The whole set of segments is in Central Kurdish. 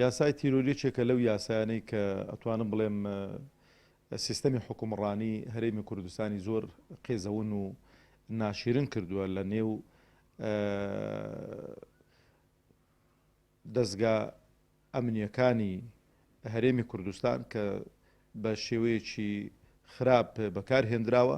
یاسای تیرۆر یەکێکە لەو یاسایانەی کە ئەتوانم بڵێم سیستەمی حکومڕانی هەرێمی کوردستانی زۆر قێزەون و ناشیرن کردووە لە نێو دەستگا ئەمنیەکانی هەرێمی کوردستان کە بە شێوەیەکی خراپ بەکار هێنراوە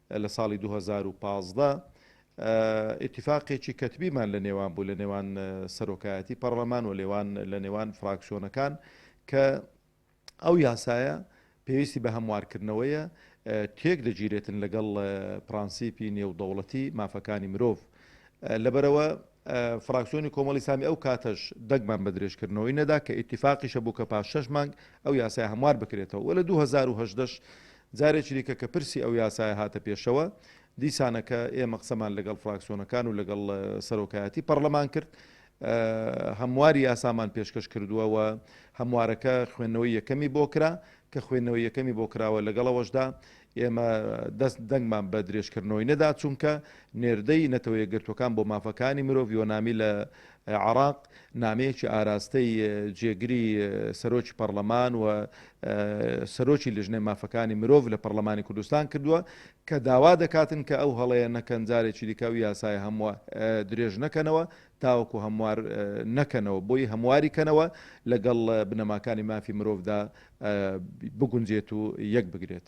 لە ساڵی دوو هەزار و پازدە ئیتیفاقێکی کەتبیمان لە نێوان بوو لە نێوان سەرۆکایەتی پەڕلەمان و لێوان لە نێوان فراکسیۆنەکان کە ئەو یاسایە پێویستی بە هەموارکردنەوەیە تێک دەگیرێتن لەگەڵ پرانسیپی نێودەوڵەتی مافەکانی مرۆڤ لەبەرەوە فراکسیۆنی کۆمەڵی سامی ئەو کاتەش دەگمان بە درێژکردنەوەی نەدا کە ئیتیفاقیشە بوو کە پاش شەش مانگ ئەو یاسایە هەموار بکرێتەوە و لە دوو هەزار و هەژدە ش جارێکی دیکە کە پرسی ئەو یاسایە هاتە پێشەوە دیسانەکە ئێمە قسەمان لەگەڵ فراکسیۆنەکان و لەگەڵ سەرۆکایەتی پەڕلەمان کرد هەمواری یاسامان پێشکەش کردووە و هەموارەکە خوێندنەوەی یەکەمی بۆ کرا کە خوێندنەوەی یەکەمی بۆ کراوە لەگەڵەوەشدا ئێمە دەست دەنگمان بە درێژکردنەوەی نەدا، چونکە نێردەی نەتەوە یەکگرتووەکان بۆ مافەکانی مرۆڤ یۆنامی لە عێراق نامەیەکی ئاراستەی جێگری سەرۆکی پەڕلەمان و سەرۆکی لیژنەی مافەکانی مرۆڤ لە پەڕلەمانی کوردستان کردووە کە داوا دەکاتن کە ئەو هەڵەیە نەکەن جارێکی دیکە ئەو یاسایە هەمووە درێژ نەکەنەوە تاوەکو هەموار نەکەنەوە، بۆی هەمواری کەنەوە لەگەڵ بنەماکانی مافی مرۆڤدا بگونجێت و یەکبگرێت.